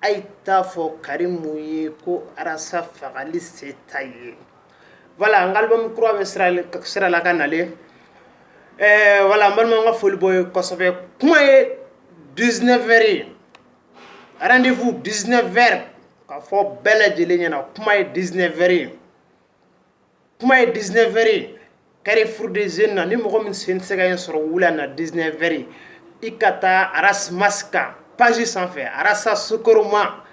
a ye t'a fɔ karimu ye ko arasa fagali se t'a ye voilà an ka album kura bɛ sira la ka nalen ɛɛ voilà an balimaw n ka foli b'aw ye kosɛbɛ kuma ye dix-neuf heures ye rendez-vous dix-neuf heures k'a fɔ bɛɛ lajɛlen ɲɛna kuma ye dix-neuf heures ye kuma ye dix-neuf heures ye carrefour des jeunes na ni mɔgɔ min sen tɛ se ka yen sɔrɔ wula na dix-neuf heures i ka taa arasmas ka page sanfɛ arasa sokoroma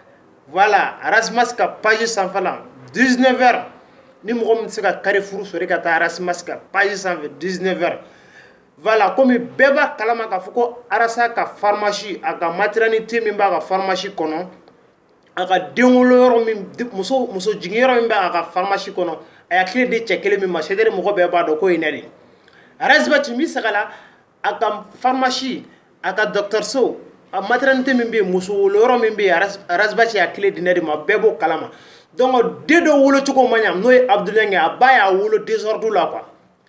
voilà arasmas ka page sanfɛ dix-neuf heures ni mɔgɔ min tɛ se ka carrefour sɔrɔ i ka taa arasmas ka page sanfɛ dix-neuf heures voilà kɔmi bɛɛ b'a kalama k'a fɔ ko arasa ka farimasi a ka maternité min b'a ka farimasi kɔnɔ a ka denwoloyɔrɔ min muso jiginyɔrɔ min bɛ a ka farimasi kɔnɔ a y'a kile di cɛ kelen min ma sere mɔgɔ bɛɛ b'a dɔn k'o ye ne de ras bath tun bɛ sagala a ka farimasi a ka dɔgɔtɔrɔso a maternité min bɛ muso woloyɔrɔ min bɛ ras bath y'a kile di ne de ma bɛɛ b'o kalama donc den dɔ wolocogo ma ɲɛ n'o ye abudulayi a ba y'a wolo désordre la quoi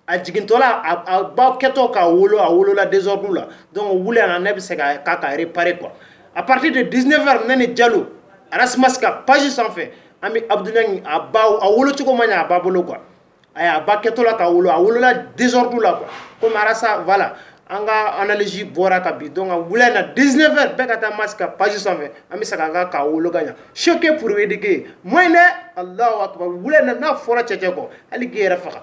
a jigintɔla a ba kɛtɔ k'a wolo a wolola désordre la donc wula ne bɛ se k'a réparer quoi à partir de dix-neuf heures ne ni jalo arasmas ka page sanfɛ an bɛ abudu a a wolo cogo ma a ba bolo quoi a a ba kɛtɔ k'a wolo a wolola désordre la ko sa fa la an kaz bɔra ka bi donc wula na dix-neuf heures bɛɛ ka taa arasmas ka page sanfɛ an bɛ se ka kan ka wolo ka ɲɛ sike purbedike mɔ in dɛ a la wili n'a fɔra cɛ cɛ kɔ hali k'i yɛrɛ faga